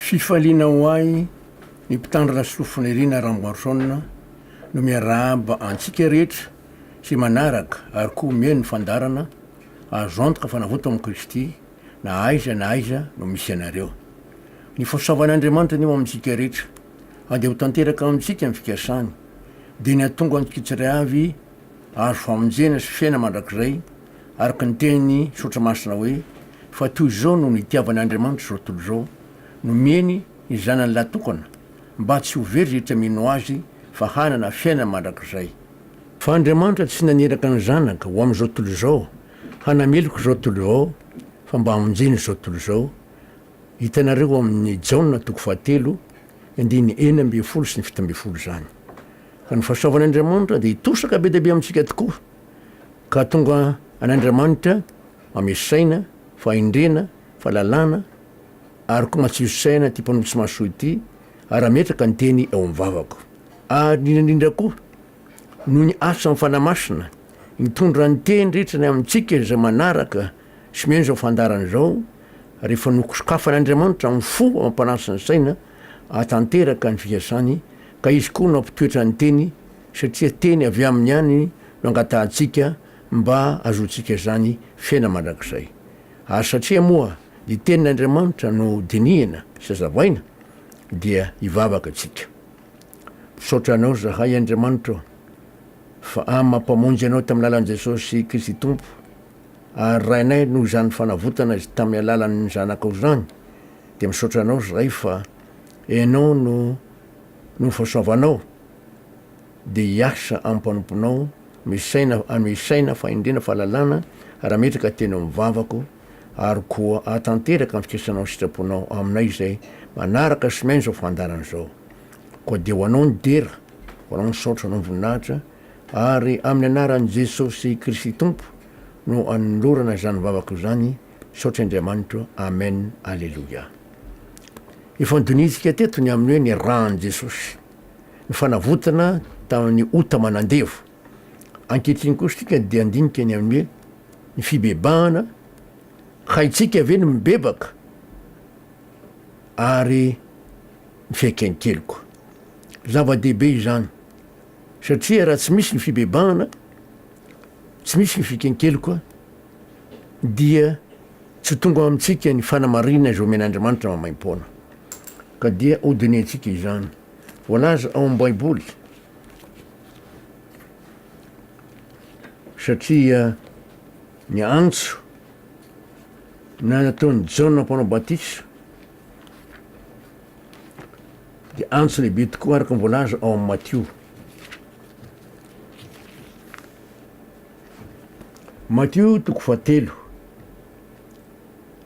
Fifaliana ho ahy ny mpitandrina sofina Irina Ramboason no miarahaba antsika rehetra izay manaraka ary koa mihaino ny fandaharana Azo antoka fa navoto amin'i Kristy na aiza na aiza no misy anareo. Ny fahasoavan'Andriamanitra anie ho amintsika rehetra andeha ho tanteraka amintsika ny fikasany dia ny hahatonga antsika tsiraiavy azo famonjena sy fiaina mandrakizay Araka ny teny Soratra Masina hoe, Fa toy izao no nitiavan' Andriamanitra izao tontolo izao, nomeny ny Zanany lahitokana, mba tsy ho very rehetra mino Azy, fa hanana fiainana mandrakizay. Fa Andriamanitra tsy naniraka ny Zanaka ho amin' izao tontolo izao, hanameloka izao tontolo izao, fa mba hamonjena izao tontolo izao. Hitanareo ao amin' ny Jaona toko fahatelo, ny andininy enina ambin'ny folo sy ny fito ambin'ny folo izany. Ka ny fahasoavan' Andriamanitra dia hitosaka be dia be amintsika tokoa, Ka tonga an'Andramanitra ame saina, fahendrena, fahalalana, ary koa matsiro saina ty mpanompo tsy mahasoa ity, ary ametraka ny teny eo amin'ny vavako. Ary indrindra indrindra koa, noho ny asan'ny Fanahy Masina, mitondra ny teny rehetra ny amintsika izay manaraka sy mihaino izao fandaharana izao, rehefa nosokafan'Andriamanitra amin'ny fo amam-panahy sy ny saina, hahatanteraka ny fikasany, ka izy koa nampitoetra ny teny satria teny avy aminy ihany no angatahantsika mba hahazoantsika izany fiainana mandrakizay, ary satria moa ny tenin'Andriamanitra no dinihina sy hazavaina dia hivavaka isika. Misaotra Anao izahay Andriamanitra ô, fa amin'ny maha Mpamonjy Anao tamin'ny alalan'i Jesosy Kristy Tompo, ary Rainay noho izany fanavotana izay tamin'ny alalan'ny Zanakao izany, dia misaotra Anao izahay fa Ianao no noho ny fahasoavanao, Dia hiasa amin'ny mpanomponao, misaina, anome saina, fahendrena, fahalalana, raha metraka teny amin'ny vavako, ary koa hahatanteraka ny fikasanao sy sitraponao aminay izay manaraka sy miaina izao fandaharana izao. Koa dia ho Anao ny dera, ho Anao ny saotra, ho Anao ny voninahitra, ary amin'ny anaran'i Jesosy Kristy Tompo no anolorana izany vavako izany, misaotra Andriamanitro, Amen, Aleloia. Ifandinihintsika teto ny amin'ny hoe ny ran'i Jesosy. ny fanavotana tamin'ny ota aman'andevo. Ankehitriny kosa isika dia handinika ny amin'ny hoe ny fibebahana, haintsika ve ny mibebaka ary ny fiaiken'ny keliko. Zava-dehibe izany satria raha tsy misy ny fibebahana, tsy misy ny fiaiken'ny keliko dia Tsy tonga ao amintsika ny fanamarihana izay omen'Andriamanitra maimaim-poana, ka dia hodinihintsika izany. Voalaza ao amin'ny Baiboly, satria ny antso na nataon'i Jaona mpanao batisa dia antso lehibe tokoa araka ny voalaza ao amin'ny Matio. Matio toko fahatelo,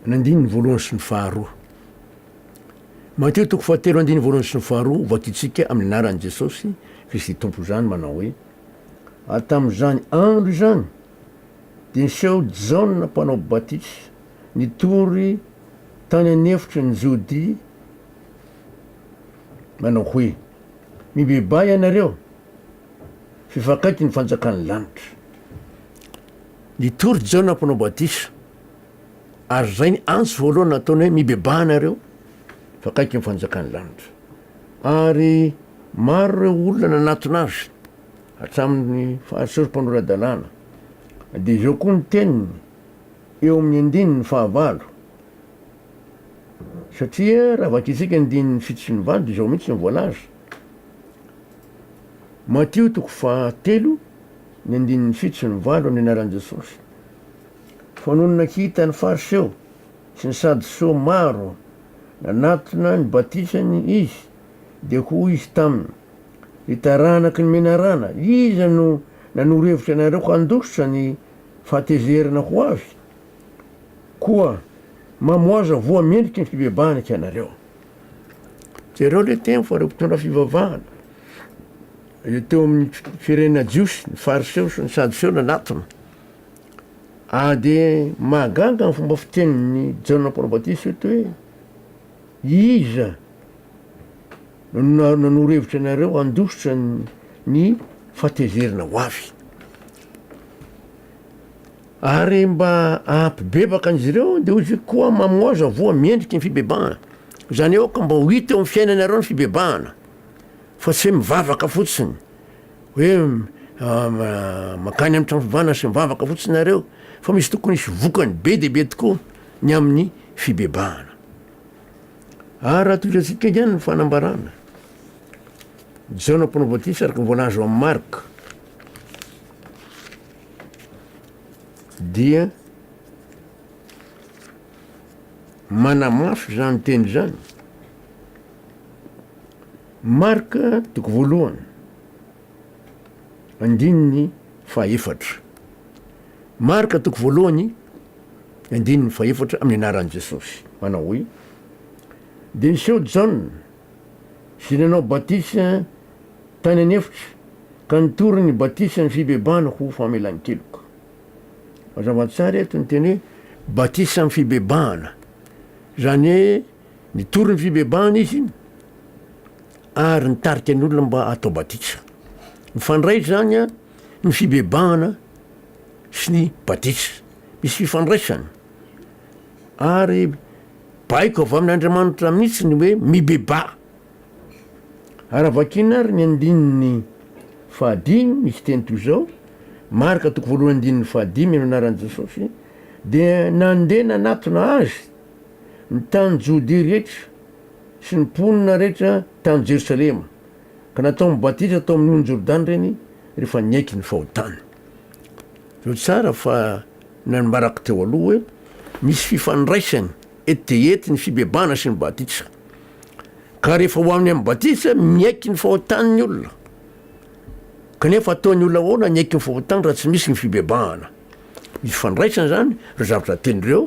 ny andininy voalohany sy ny faharoa. Matio toko fahatelo andininy voalohany sy ny faharoa, vakitsika amin'ny anaran'i Jesosy Kristy Tompo izany manao hoe, Ary tamin'izany andro izany dia niseho Jaona mpanao batisa nitory tany an'efitry ny Jodia manao hoe, Mibebaha ianareo, Fifakaiky ny fanjakan'ny lanitra. Nitory Jaona mpanao batisa ary izay ny antso voalohany nataony hoe mibebaha nareo fa akaiky ny fanjakan'ny lanitra. Ary maro ireo olona nanatona azy hatramin'ny fahasory mpanora-dalàna. Dia izao koa ny teniny eo amin'ny andininy fahavalo. Satria raha vakintsika ny andininy fito sy ny valo dia izao mihitsy ny voalaza. Matio toko fahatelo ny andininy fito sy ny valo ny anaran'i Jesosy. Fanonona tsy hitan'ny Fariseo sy ny Sadoseo maro nanatona ny batisany izy dia hoy izy taminy, Ry taranaky ny menarana, iza no nanoro hevitra anareo handositra ny fahatezerana ho avy? Koa mamoaza voa mendriky ny fibebahana ianareo. Jereo le teny fa reo mpitondra fivavahana le teo amin'ny firenena jiosy ny fariseo sy ny sadoseo nanatona ah de mahagaga ny fomba fitenin'ny jaona mpanabatisa eto hoe iza no nanoro hevitra anareo handositra ny fatezerana ho avy Ary mba hampibebaka an'izy ireo, dia hoy izy, Koa mamoaza voa mendriky ny fibebahana. Izany hoe aoka mba ho hita eo amin'ny fiainanareo ny fibebahana, fa tsy hoe mivavaka fotsiny, hoe mankany amin'ny trano fivavahana sy mivavaka fotsiny nareo, fa misy tokony hisy vokany be dia be tokoa ny amin'ny fibebahana. Ary raha toy izay antsika ihany ny fanambarana, Jaona Mpanao Batisa araka ny voalaza ao amin'ny Marka, dia manamafy izany teny izany Marc toko voalohany andininy fahefatra Marc toko voalohany andininy fahefatra amin'ny anaran'i Jesosy manao hoe dia niseho Jaona Izay nanao batisa tany an'efitra ka nitory ny batisan'ny fibebahana ho famelan-keloka. Mazava tsara eto ny teny hoe batisa amin'ny fibebahana, izany hoe nitory ny fibebahana izy ary nitarika ny olona mba hatao batisa. Mifandray izany ny fibebahana sy ny batisa, misy fifandraisany ary Baiko avy amin' Andriamanitra mihitsy ny hoe mibebaha. Raha vakiana ary ny andininy fahadimy, misy teny toy izao, Marka toko voalohany andininy fahadimy, amin'ny anaran'i Jesosy, dia nandeha nanatona Azy ny tany Jodia rehetra sy ny mponina rehetra tany Jerosalema, ka nataony batisa tao amin'ny ony Jordana ireny rehefa niaiky ny fahotany. Tro tsara fa Nambarako teo aloha hoe misy fifandraisany ety dia ety ny fibebahana sy ny batisa. Ka rehefa ho amin'ny amin'ny batisa, miaiky ny fahotany ny olona. Kanefa ataon'ny olona ahoana ny haiky ny fahotany raha tsy misy ny fibebahana? Misy fifandraisany izany ireo zavatra telo ireo,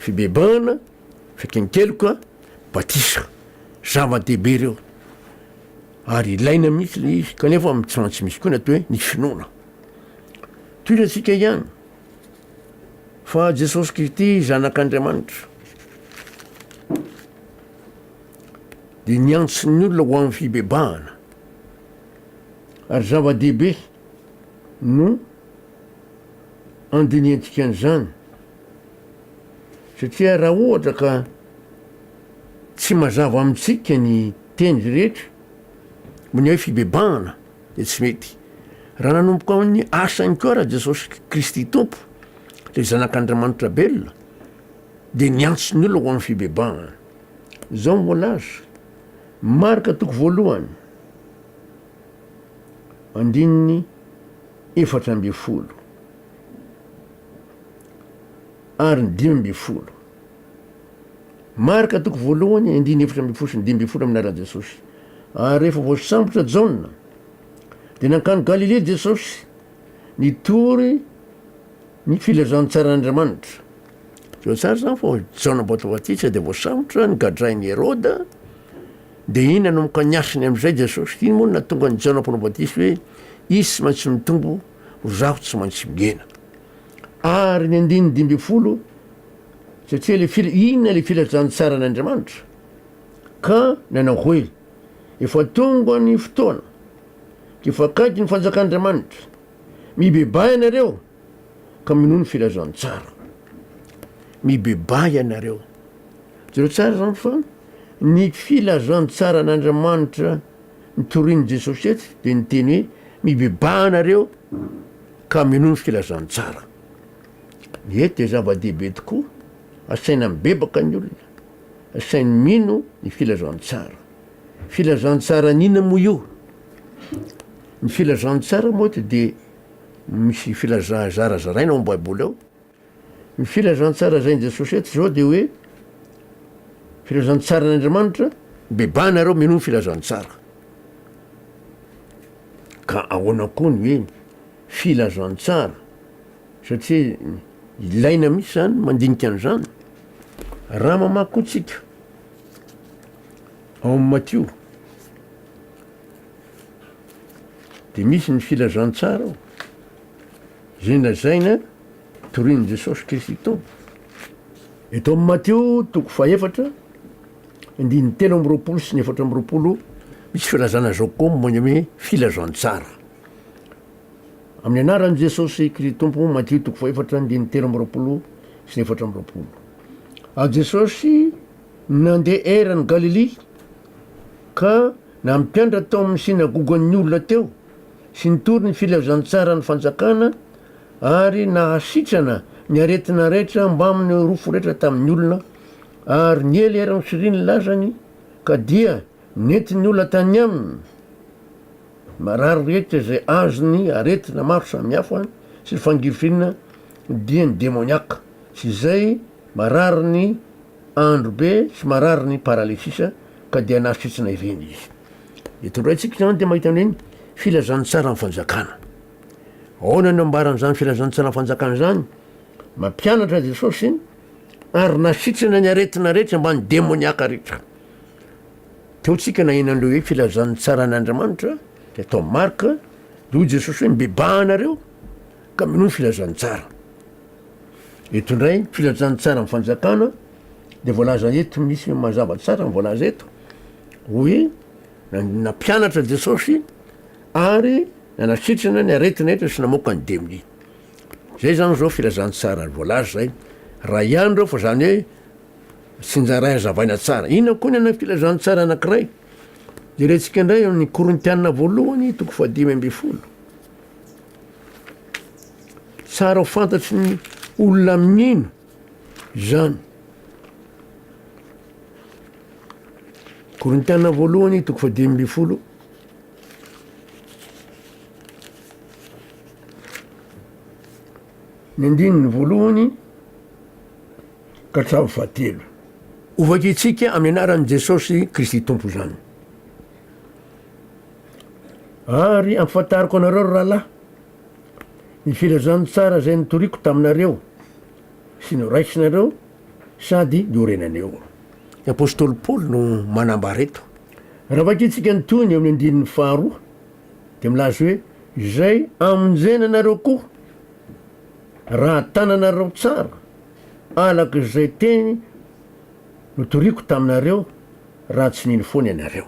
fibebahana, fiaiken-keloka, batisa. Zava-dehibe ireo. Ary ilaina mihitsy ilay izy. Kanefa tsy maintsy misy koa ny atao hoe ny finoana. Toy ny antsika ihany, fa Jesosy Kristy Zanak'Andriamanitra dia niantso ny olona ho amin'ny fibebahana. Ary zava-dehibe no andinihantsika an'izany, satria raha ohatra ka tsy mazava amintsika ny teny rehetra, ny hoe fibebahana, dia tsy mety. Raha nanomboka ao amin'ny asany koa ra Jesosy Kristy Tompo, le zanak'Andriamanitra belona, dia niantso ny olona ho amin'ny fibebahana. Zao ny voalaza, Marka toko voalohany, andininy efatra ambin'ny folo ary ny dimy ambin'ny folo. Marka toko voalohany andininy efatra ambin'ny folo sy ny dimy ambin'ny folo amin'ny lalan'i Jesosy. Ary rehefa voasambotra Jaona, dia nankany Galilea Jesosy nitory ny filazantsaran'Andriamanitra. Zao tsara izany fa Jaona Batobatisa dia voasambotra, nogadrain'i Heroda, dia inona no ka niasany amin'izay Jesosy? Ino moa no nahatonga an'i Jaona Mpanao Batisa hoe hisy tsy maintsy mitombo, ho zaho tsy maintsy mihena? Ary ny andininy dimy ambin'ny folo, satria le fil, inona le filazantsaran' Andriamanitra? Ka nanao hoe, Efa tonga ny fotoana, dia efa akaiky ny fanjakan' Andriamanitra, mibebahy ianareo ka minoa ny filazantsara. Mibebahy ianareo. Jereo tsara izany fa ny filazantsaran' Andriamanitra notorin'i Jesosy eto dia ny teny hoe mibebahy ianareo. Ka mino ny filazantsara. Ny hery dia zava-dehibe tokoa, asaina mibebaka ny olona, asainy mino ny filazantsara. Filazantsara an'inona moa io? Ny filazantsara moa dia misy filazana zarazaraina ao amin'ny Baiboly ao. Ny filazantsara lazain'i Jesosy eto izao dia hoe, filazantsaran'Andriamanitra, bebaha nareo minoa ny filazantsara. Ka ahoana koa ny hoe filazantsara? Satria ilaina mihitsy izany ny mandinika an'izany. Raha mamaky koa tsika ao amin'ny Matio dia misy ny filazantsara ao. Izay lazaina, torin'i Jesosy Kristy Tompo. Eto amin'ny Matio toko fahefatra, andininy telo amby roapolo sy ny efatra amby roapolo, misy filazana izao koa momba ny hoe filazantsara. Amin'ny anaran'i Jesosy Kristy Tompo, Matio toko fahefatra, andininy telo amby roapolo sy ny efatra amby roapolo. Ary Jesosy nandeha eran'i Galilia ka nampianatra tao amin'ny synagogan'ny olona teo sy nitory ny filazantsaran'ny fanjakana ary nahasitrana ny aretina rehetra mbamin'ny Eurofo rehetra tamin'ny olona ary niely ery ny firy ny lazany ka dia nentin'ny olona tany aminy marary rehetra izay azony aretina maro samihafa sy ny fangirifirina dia ny demoniaka sy izay marary ny andro be sy marary ny paralysisa ka dia nahasitrana ireny izy Eto indray tsika izany dia mahita ny hoe filazantsaran'ny fanjakana. Ahoana no ambaran'izany filazantsaran'ny fanjakana izany? Mampianatra Jesosy ary nasitrana ny aretina rehetra mba ny demoniaka rehetra. Teo tsika naheno an'ireo hoe filazantsaran'Andriamanitra dia tao Marka dia hoy Jesosy hoe mibebaha anareo Ka mino ny filazantsara. Eto indray ny filazantsara ny fanjakana dia voalaza eto misy hoe mazava tsara ny voalaza eto hoe nampianatra Jesosy ary nanasitrana ny aretina eto sy namoaka ny demony. Zay zany zao filazantsara voalaza zay. Raha ihany reo fa zany hoe tsinjaray azavaina tsara. Inona koa ny ana filazantsara anakiray? Jerentsika indray ny Korintiana voalohany toko fahadimy ambin'ny folo. Tsara ho fantatry ny olona amin'ino izany? Korintiana voalohany toko fahadimy ambin'ny folo ny andininy voalohany ka hatramin'ny fahatelo. Hovakintsika amin'ny anaran'i Jesosy Kristy Tompo izany. Ary ampahafantariko anareo ry rahalahy, ny filazantsara izay notoriko taminareo sy noraisinareo sady norenaneo. Ny apostoly Paoly no manambara eto. Raha vakintsika ny tohiny eo amin'ny andininy faharoa, dia milaza hoe, Izay amonjena anareo koa, raha tananareo tsara alaka izay teny notoriko taminareo, Raha tsy nino foana ianareo.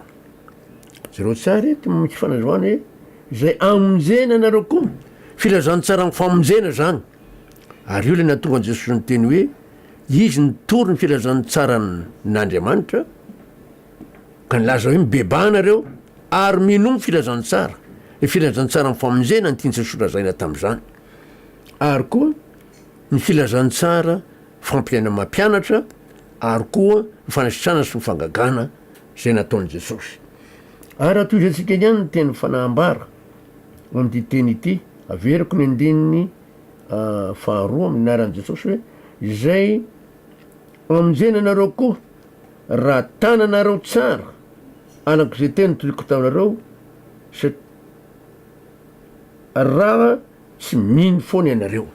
Jereo tsara eto amin'ny fanazavana hoe izay amonjena anareo koa, filazantsaran'ny famonjena izany. Ary io ilay nahatonga an'i Jesosy niteny hoe izy nitory ny filazantsaran'Andriamanitra ka nilaza hoe mibebaha nareo ary minoa ny filazantsara, ny filazantsaran'ny famonjena ny tian'i Jesosy lazaina tamin'izany. Ary koa ny filazantsara fampiainan'ny mampianatra, ary koa ny fanasitrana sy ny fangagana izay nataon'i Jesosy. Ary atohizantsika ihany ny teny fanahambara ao amin'ity teny ity, averiko ny andininy faharoa amin'ny anaran'i Jesosy hoe izay amonjena anareo koa raha tananareo tsara alako izay teny toiko taminareo satria raha tsy mino foana ianareo.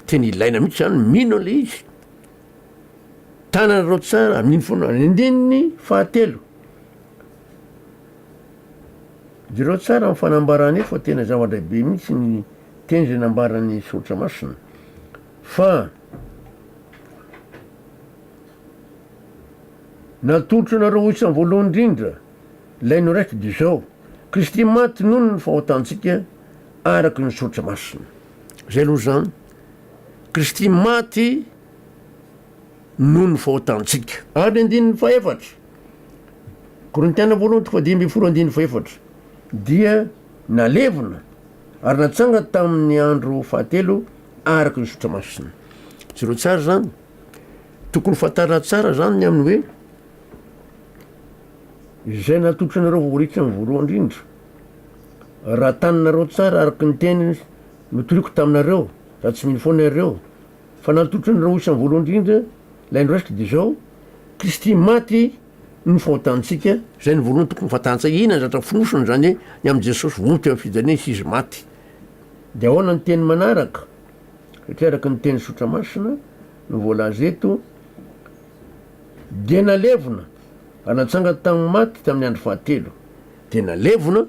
Teny ilaina mihitsy izany, mino ilay izy. Tananareo tsara amin'iny foana. Ny andininy fahatelo, jereo tsara ny fanambarana io fa tena zava-dehibe mihitsy ny teny izay nambaran'ny soratra masina fa natolotro anareo ho isan'ny voalohany indrindra ilay noraiky dia izao Kristy maty noho ny fahotantsika araka ny soratra masina. Zay aloha zany. Kristy maty noho ny fahotantsika. Ary ny andininy fahefatra, Korintiana voalohany toko fahadimy ambin'ny folo andininy fahefatra, dia nalevina ary natsanga tamin'ny andro fahatelo araka ny zotra masina. Jereo tsara izany. Tokony fantarina tsara izany ny amin'ny hoe izay natolotranareo ho ritra ny voalohany indrindra. Raha taninareo tsara araka ny teny Notoriko taminareo, raha tsy mino foana iareo, fa nantotry ny raoisany voalohany indrindra, ilay noraisiko dia izao, Kristy maty no fahotantsika, izay no voalohany tokony fantahantsika, inona no zavatra fonosina izany ny amin'i Jesosy vonto eo amin'ny fijaliana Izy sy Izy maty? Dia ahoana ny teny manaraka? Satria araka ny teny sotra masina no voalaza eto, Dia nalevina, ary natsangany tamin'ny maty tamin'ny andro fahatelo. Dia nalevina.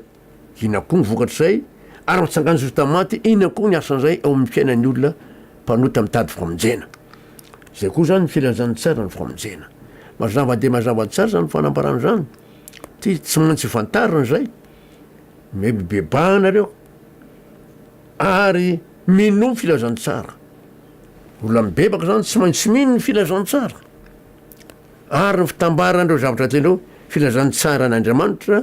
Inona koa ny vokatr'izay? Ary mitsangan-jo vita amin'ny maty, inona koa ny asan'izay eo amin'ny fiainan'ny olona mpanota mitady famonjena? Izay koa izany ny filazan'ny tsara ny famonjena. Mazava dia mazava tsara izany fanambarana izany. Tsy maintsy fantarina izay. Mety mibebaha ianareo ary minoa ny filazantsara. Olona mibebaka izany tsy maintsy mino ny filazantsara. Ary ny fitambaran'ireo zavatra tianao, filazantsara an'Andriamanitra,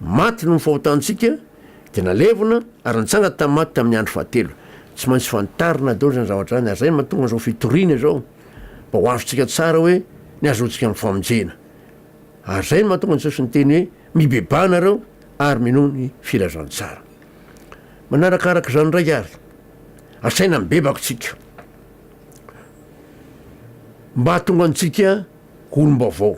Maty noho ny fahotantsika, dia nalevina ary nitsanga tamin'ny maty tamin'ny andro fahatelo. Tsy maintsy fantarina daholo izany zavatra izany, ary izay no mahatonga izao fitoriana izao, mba ho azontsika tsara hoe ny hahazoantsika amin'ny famonjena. Ary izay no mahatonga an'i Jesosy niteny hoe, Mibebaha nareo ary minoa ny filazantsara. Manarakaraka izany indray ary, asaina mibebaka isika, mba hahatonga antsika Olom-baovao.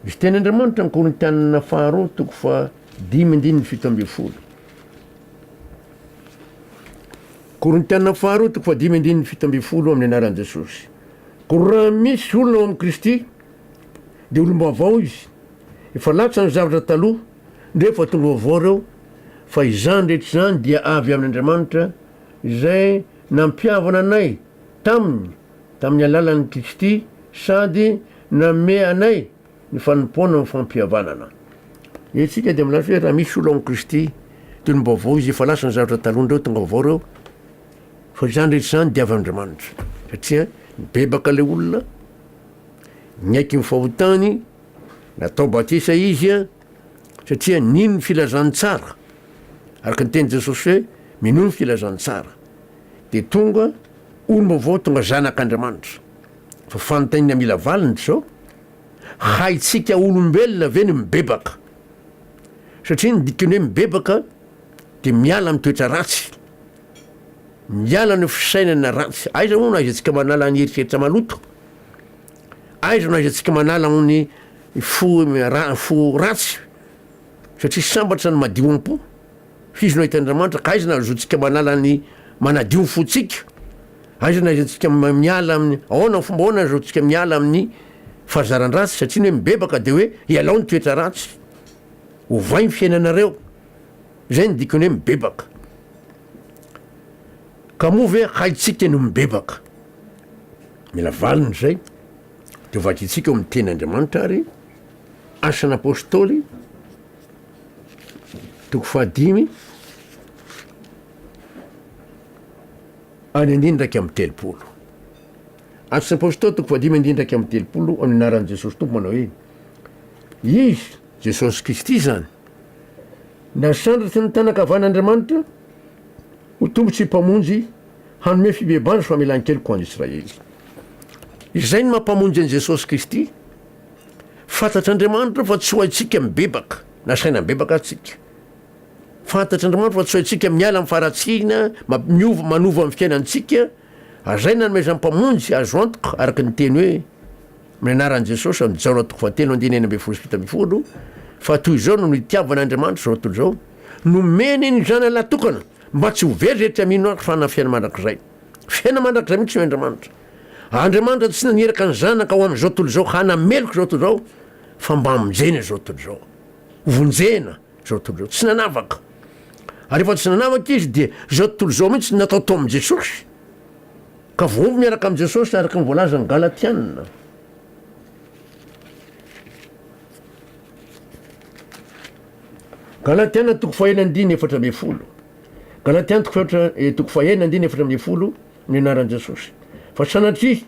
Ny fitenin'Andriamanitra ny Korintianina faharoa toko faha dimy andininy fito ambin'ny folo. Korintianina faharoa toko faha dimy andininy fito ambin'ny folo amin'ny anaran'i Jesosy. Koa raha misy olona ao amin'i Kristy dia olom-baovao izy. Efa latsa ny zavatra taloha, ndreo efa tonga vaovao ireo, fa izany rehetra izany dia avy amin'Andriamanitra izay nampihavana anay taminy Tamin'ny alalan'ny Kristy sady nanome anay ny fanompoana amin'ny fampihavanana. Isika dia milaza hoe raha misy olo ao amin'i Kristy dia olom baovao izy, efa lasa ny zavatra taloha indray tonga vaovao ireo, fa izany rehetra izany dia avy amin'Andriamanitra satria nibebaka ilay olona, niaiky ny fahotany, natao batisa izy satria nino ny filazantsara, araka ny tenin'i Jesosy hoe minoa ny filazantsara. dia tonga olom-baovao, tonga zanak' Andriamanitra. Fa fanontaniana mila valiny izao, haintsika olombelona ve ny mibebaka? Satria ny dikan'ny hoe mibebaka dia miala amin'ny toetra ratsy, miala ny fisainana ratsy. Aiza moa no ahaizantsika manala ny eritreritra maloto? Aiza no ahaizantsika manala amin'ny fo, ra, fo ratsy? Satria sambatra ny madio am-po. F'izy no ahitan'Andriamanitra, ka aiza no ahazoantsika manala ny manadio ny fontsika? Aiza no ahaizantsika miala amin'ny, ahoana, amin'ny fomba ahoana no ahazoantsika miala amin'ny fahazaran-dratsy? Satria ny hoe mibebaka dia hoe ialao ny toetra ratsy, ovay ny fiainanareo, izay no dikon'ny hoe mibebaka. Ka moa ve haintsika ny mibebaka? Mila valiny izay, dia ho vakintsika ao amin'ny Tenin'Andriamanitra ary, Asan'Apôstôly, Toko fahadimy, andininy dimy iraika amby telopolo. Atos Apôstôly toko fahadimy andininy iraika amby telopolo amin'ny anaran'i Jesosy Tompo manao hoe Izy, Jesosy Kristy izany, nasandratry ny tanan-kavan'Andriamanitra ho Tompo sy Mpamonjy hanome fibebahana sy famelan-keloka ho an'Israely. Izay no maha-Mpamonjy an'i Jesosy Kristy. Fantatr'Andriamanitra fa tsy ho haintsika mibebaka na saina mibebaka aza tsika. Fantatr'Andriamanitra fa tsy ho haintsika miala amin'ny faharatsiana miova manova ny fiainantsika, ary izay nanomezan'ny Mpamonjy azo antoka araka ny teny hoe, Amin'ny anaran'i Jesosy amin'i Jaona toko fahatelo andininy enina ambin'ny folo sy fito ambin'ny folo, fa toy izao no nitiavan'Andriamanitra izao tontolo izao, nomeny ny Zanany lahy tokana, mba tsy ho very izay tsy hamino Azy fa hanana fiaina mandrakizay. Fiaina mandrakizay mihitsy no Andriamanitra. Andriamanitra tsy naniraka ny Zanaka ho amin'izao tontolo izao hanameloka izao tontolo izao fa mba hamonjena izao tontolo izao. Hovonjena izao tontolo izao. Tsy nanavaka. Ary rehefa tsy nanavaka izy dia izao tontolo izao mihitsy no natao tao amin'i Jesosy. Ka voavy miaraka amin'i Jesosy araka ny voalazan'ny Galatiana. Galatiana toko fahenina andiny efatra ambin'ny folo. Galatiana toko fahefatra eh, toko fahenina andiny efatra ambin'ny folo. ny anaran'i Jesosy. Fa sanatria,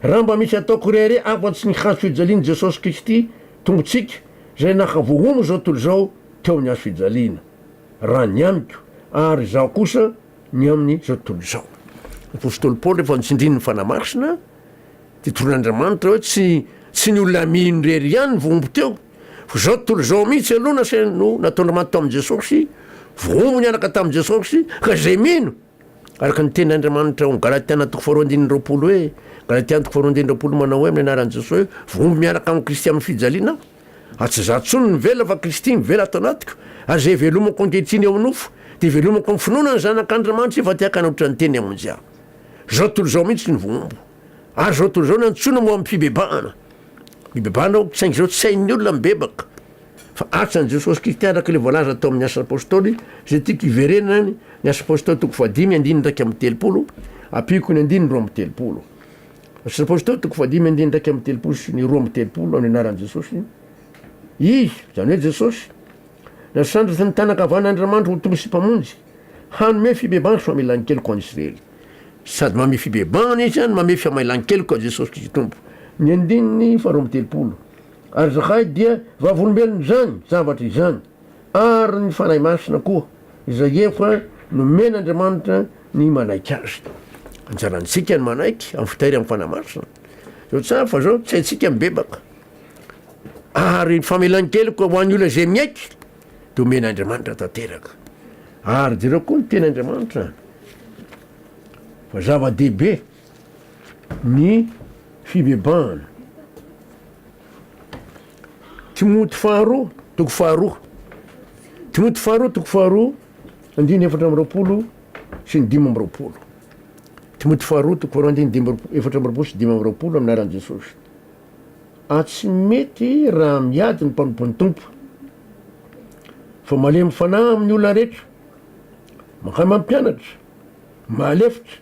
raha mba misy atao koreare afa-tsy ny hazo fijalian'i Jesosy Kristy Tompontsika izay naka vohono izao tontolo izao teo amin'ny hazo fijaliana, raha ny amiko, ary izaho kosa ny amin'izao tontolo izao. Ny apositoly Paoly rehefa notsindrin'ny Fanahy Masina dia toroan' Andriamanitra hoe tsy tsy ny olona mino irery ihany no vohombo teo, fa izao tontolo izao mihitsy aloha nasain no nataon'Andriamanitra tao amin'i Jesosy, vohombo niaraka tamin'i Jesosy ka izay mino. Araka ny tenin' Andriamanitra ao amin'ny Galatiana toko faharoa andininy roapolo hoe, Galatiana toko faharoa andininy roapolo manao hoe amin'ny anaran'i Jesosy hoe, Voamby miaraka amin'i Kristy amin'ny fijaliana aho, ary tsy izaho intsony no mivelona fa Kristy mivela ato anatiko, ary izay ivelomako ankehitriny eo amin'ny nofo dia ivelomako amin'ny finoana ny Zanak' Andriamanitra efa te hakana ohatran'ny teny hamonjy ahy. Izao tontolo izao mihitsy no voambo, ary izao tontolo izao no antsoina ho amin'ny fibebahana, mibebahana aho saingy izao tsy hain'ny olona mibebaka. Fa asa an'i Jesosy Kristy araka ilay voalaza tao amin'ny Asa Apôstôly, izay tiako hiverenana, ny Asa Apôstôly toko fahadimy andininy iraika amby telopolo, ampiako ny andininy roa amby telopolo. Asa Apôstôly toko fahadimy andininy iraika amby telopolo sy ny roa amby telopolo amin'ny anaran'i Jesosy. Izy, izany hoe Jesosy, nasandratra ny tàna ankavanan'Andriamanitra ho Tompo sy Mpamonjy, hanome fibebahana sy famelan-keloka ho an'i Israely. Sady manome fibebahana Izy no manome fiamailan-keloka, Jesosy Kristy Tompo. Ny andininy faharoa amby telopolo. Ary izahay dia vavolombelon' izany zavatra izany, ary ny Fanahy Masina koa, izay efa nomen' Andriamanitra ny manaiky Azy. Anjarantsika ny manaiky amin'ny fitahiry amin'ny Fanahy Masina. Zao tsara fa zao tsy haintsika mibebaka. Ary ny famelan-keloka ho an'ny olona izay miaiky dia omen' Andriamanitra tanteraka. Ary jereo koa ny tenin' Andriamanitra fa zava-dehibe. ny fibebahana. Timoty faharoa toko faharoa Timoty faharoa toko faharoa andiny efatra amby roapolo sy ny dimy amby roapolo Timoty faharoa toko faharoa andiny dimy efatra amby roapolo sy dimy amby roapolo amin'ny anaran'i Jesosy a tsy mety raha miady ny mpanompon'ny tompo fa malemy fanahy amin'ny olona rehetra mankay mampianatra mahalefitra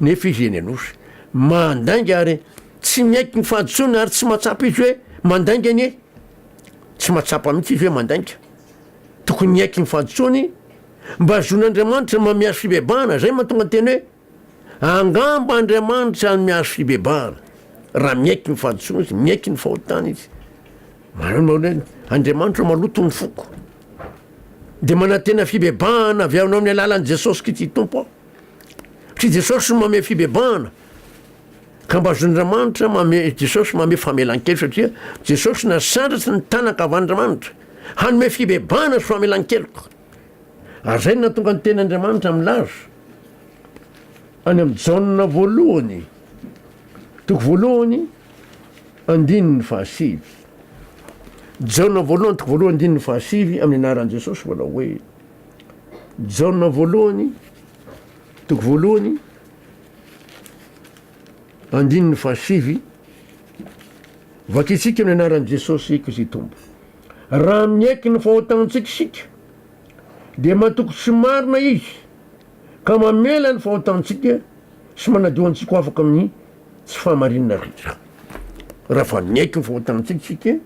Nefa izy eny Anosy mandainga ary tsy miaiky ny fahadisoana ary tsy mahatsapa izy hoe mandainga anie. Tsy mahatsapa mihitsy izy hoe mandainga. Tokony miaiky ny fahadisoany mba zon'Andriamanitra mba miazo fibebahana, zay mahatonga ny teny hoe angamba Andriamanitra no miazo fibebahana. Raha miaiky ny fahadisoana izy, miaiky ny fahotany izy. Andriamanitra maloto ny foko. Dia manantena fibebahana avy aminao amin'ny alalan'i Jesosy Kristy Tompo aho. Tsy Jesosy no manome fibebahana ka mba zon'Andriamanitra manome Jesosy manome famelan-keloka satria Jesosy nasandratra ny tana ankavan'Andriamanitra hanome fibebahana sy famelan-keloka. Ary izay no nahatonga ny tenin'Andriamanitra milaza any amin'ny Jaona voalohany toko voalohany andininy fahasivy. Jaona voalohany toko voalohany andininy fahasivy amin'ny anaran'i Jesosy manao hoe Jaona voalohany, toko voalohany, andininy fahasivy, vakintsika ny anaran'i Jesosy Kristy Tompo. Raha miaiky ny fahotantsika isika, dia matoky tsy marina izy ka mamela ny fahotantsika sy manadio antsika ho afaka amin'ny tsy fahamarinana rehetra. Raha fa miaiky ny fahotantsika isika,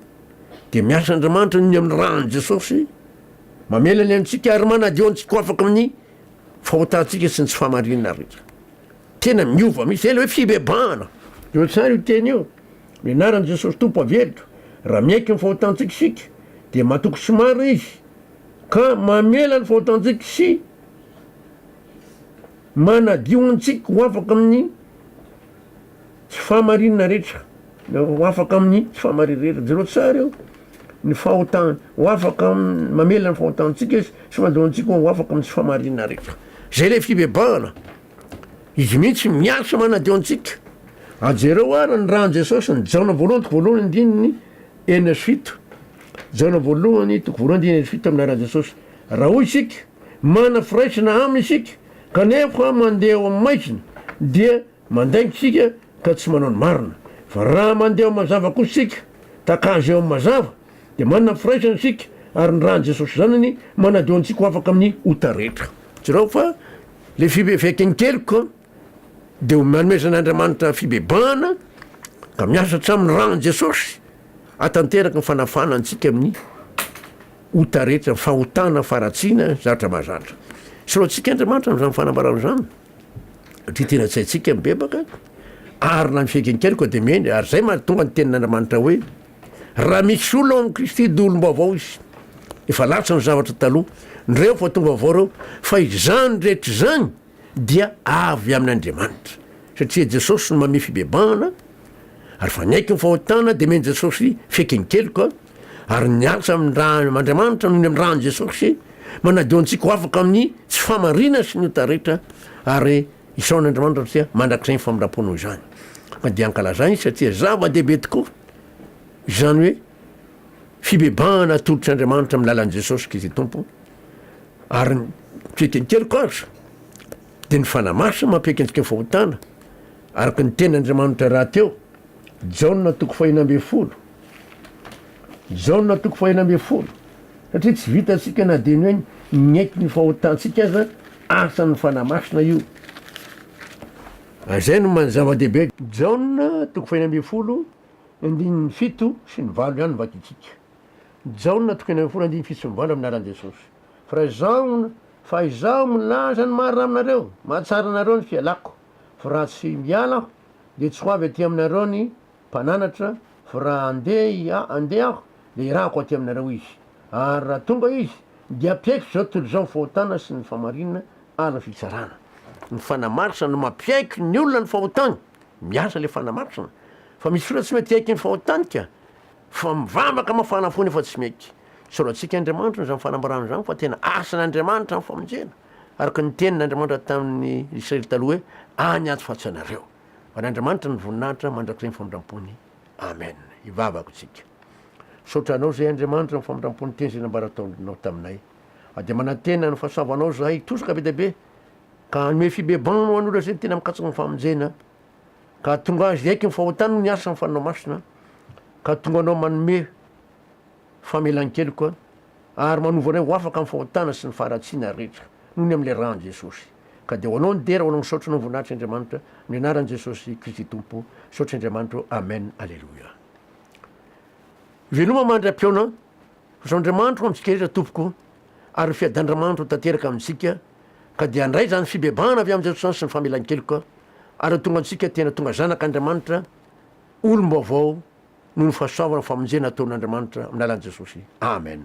dia miasa Andriamanitra ny amin'ny ran'i Jesosy Mamela ny antsika ary manadio antsika ho afaka amin'ny fahotantsika sy ny tsy fahamarinana rehetra. Tena miova mihitsy. Ela hoe fibebahana. Teo tsara io teny io. Ny anaran'i Jesosy Tompo averiko. Raha miaiky ny fahotantsika isika, dia matoky tsy marina Izy, ka mamela ny fahotantsika sy manadio antsika ho afaka amin'ny. Tsy fahamarinana rehetra ho afaka amin'ny tsy fahamarinana rehetra. Jereo tsara eo ny fahotany ho afaka mamela ny fahotantsika izy sy fandohantsika ho afaka amin'ny tsy fahamarinana rehetra. Zay le fibebahana. Izy mihitsy miasa manadio antsika. A jereo ary ny ran'i Jesosy ny Jaona voalohany toko voalohany andininy enina sy fito. Jaona voalohany toko voalohany andininy enina sy fito amin'ny ran'i Jesosy. Raha hoy isika, manana firaisana aminy isika kanefa mandeha eo amin'ny maizina dia Mandainga isika ka tsy manao ny marina. Fa raha mandeha ao amin'ny mazava kosa isika, tahaka Azy ao amin'ny mazava, dia manana ny firaisana isika, ary ny ran'i Jesosy Zanany manadio antsika ho afaka amin'ny ota rehetra. Jerao fa ilay fibe fiaiken-keloka dia omeanomezan'Andriamanitra fibebahana ka miasa hatramin'ny ran'i Jesosy hahatanteraka ny fanafahana antsika amin'ny ota rehetra, ny fahotana faharatsiana zatra mahazatra. Soratintsika Andriamanitra amin'izany fanambarana izany. Satria tena tsy haintsika mibebaka, ary na ny fiaiken-kery koa dia mendry, ary izay mahatonga ny tenin'Andriamanitra hoe, Raha misy olona ao amin'i Kristy, dia olom-baovao izy. Efa latsa ny zavatra taloha, ny reo efa tonga vaovao reo, fa izany rehetra izany dia avy amin'Andriamanitra. Satria Jesosy no mamehy fibebahana, ary fa niaiky ny fahotana, dia men'i Jesosy fiaiken-keloka, Ary ny asa amin-dRaamandriamanitra noho ny amin-dRany Jesosy manadio antsika ho afaka amin'ny tsy fahamarinana sy ny ota rehetra ary isaorana Andriamanitra satria mandrakizay ny famindram-po noho izany. Ka dia ankalazany izy satria zava-dehibe tokoa izany hoe fibebahana atolotry Andriamanitra amin'ny lalan'i Jesosy Kristy Tompo ary ny fiheten-keloka aza dia ny fanahy masina mampiaiky antsika fahotana araka ny tenin'Andriamanitra rahateo Jaona toko fahina ambin'ny folo Jaona toko fahenina ambin'ny folo, satria tsy vitantsika na dia ny hoe miaiky ny fahotantsika aza, asan'ny Fanahy Masina io. Izay no zava-dehibe. Jaona toko fahenina ambin'ny folo, andininy fito sy ny valo ihany no vakintsika. Jaona toko enina ambin'ny folo andininy fito sy ny valo amin'ny anaran'i Jesosy. Fa izaho, fa izaho milaza ny marina aminareo, mahatsara anareo ny fialako, fa raha tsy miala aho, dia tsy ho avy aty aminareo ny. Mpananatra, fa raha handeha handeha aho, dia hirahako aty aminareo izy. Ary raha tonga izy, dia hampiaiky izao tontolo izao ny fahotana sy ny fahamarinana ary ny fitsarana. Ny fanamaritra no mampiaiky ny olona ny fahotany. Miasa ilay fanamaritra. Fa misy olona tsy mety hiaiky ny fahotany ka. Fa mivavaka mafana fo nefa tsy mety. Tsorantsika Andriamanitra izany fanambarana izany fa tena asan'Andriamanitra ny famonjena. Araka ny tenin' Andriamanitra tamin'ny Israely taloha hoe, Any ato fatsy anareo. Ho an'Andriamanitra ny voninahitra mandrakizay ny famindrampony. Amen. Hivavaka isika. Misaotra Anao izay Andriamanitra amin'ny famindrampon'ny teny izay nambara ataonao taminay. Ary dia manantena ny fahasoavanao izahay hitosaka be dia be ka hanome fibebahana ho an'olona izay tena mikatsaka ny famonjena ka tonga azy hiaiky ny fahotany ny asa ny fanao masina ka tonga anao manome Famelan-keloka, ary manova anay ho afaka amin'ny fahotana sy ny faharatsiana rehetra, noho ny amin'ilay ran'i Jesosy. Ka dia ho Anao ny dera, ho Anao ny saotra, ho Anao ny voninahitra Andriamanitra, amin'ny anaran'i Jesosy Kristy Tompo, saotra Andriamanitra ô, amen, aleloia. Veloma mandry ampihaona, Zo Andriamanitra ho amintsika rehetra Tompoko, ary ny fiadan'Andriamanitra ho tanteraka amintsika, ka dia handray izany fibebahana avy amin'i Jesosy izany sy ny famelan-keloka, ary ho tonga antsika tena tonga zanak'Andriamanitra, olom-baovao noho ny fahasoavana famonjena ataon'Andriamanitra amin'ny alalan'i Jesosy. Amen.